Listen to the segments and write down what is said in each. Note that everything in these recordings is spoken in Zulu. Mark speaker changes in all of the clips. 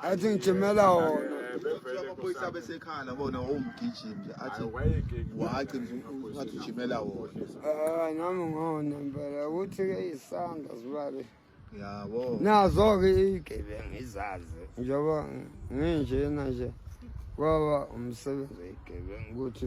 Speaker 1: athi ngijimela
Speaker 2: wonaaamaphoyisa eh,
Speaker 1: abesekhala bona wawumgijimi nje athi waci ngathi ujimela wona ah, nami ngona
Speaker 2: mpela ukuthi-ke isandla sibale yabo
Speaker 1: nazo-ke
Speaker 2: iyigebengu izazi njengoba nginjena nje kwaba umsebenzi oyigebengu ukuthi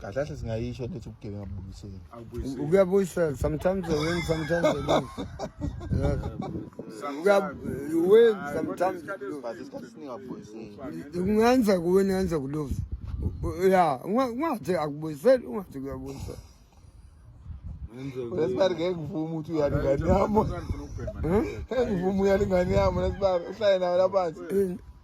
Speaker 3: kahle kahle
Speaker 1: singayisho lethi ubugebengu abubuyiseli ukuyabuyisela
Speaker 3: sometimes they win sometimes
Speaker 2: they lose you win sometimes but isikhathi siningi abubuyiseli
Speaker 1: kungenza
Speaker 2: kuwin yenza kulose ya ungathi akubuyiseli ungathi kuyabuyisela
Speaker 1: lesibari ngeke ngivume ukuthi uyala ingane yami ngeke ngivume uyala ingane yami lesibari uhlale nayo laphansi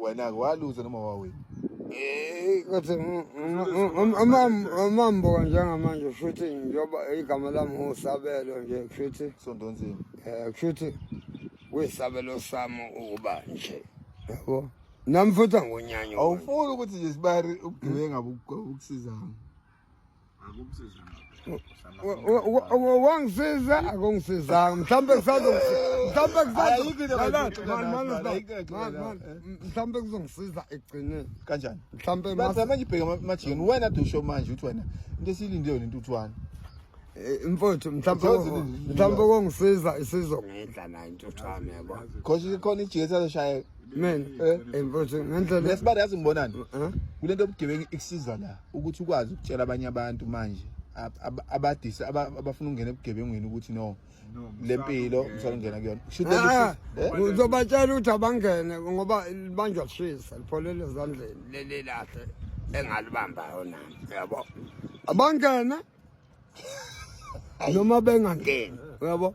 Speaker 2: wena-ke
Speaker 1: waluza noma wawina Eh,
Speaker 2: kodwa mm, mm, mm, umam- umambo njengamanje kushuthi njengoba igama lami ngusabelo nje kushuthi sondonzima
Speaker 1: um kushuthi
Speaker 2: kuyisabelo sami ukuba nje yabo nami futhi angonyanyo awufuni ukuthi nje
Speaker 1: sibari ubugebenga bukusizanga
Speaker 2: wangisiza akungisizanga mhlawumbe mhlawumbe kuzongisiza ekugcineni kanjani mhlawumbe
Speaker 1: manje
Speaker 2: ibheke
Speaker 1: amajikeni wena de usho manje ukuthi wena into esiyilinde yona intuthwane eh,
Speaker 2: mfowethu mhlawumbe kongisiza isizongidla nayo intuthwane yabo khona ijiketi
Speaker 1: azoshayeka mina eh,
Speaker 2: eh mfowethu ngendlela lesibali yazi ngibonani
Speaker 1: eh? kule nto yobugebengu ikusiza la ukuthi ukwazi ukutshela abanye abantu manje abadise abafuna ukungena ebugebengwini ukuthi no lempilo msalungena kuyona ah, eh? uzobatshela
Speaker 2: ukuthi abangene ngoba libanjwa kushisa lipholele ezandleni leli lahle engalibambayo nami yabo abangene noma bengangeni yabo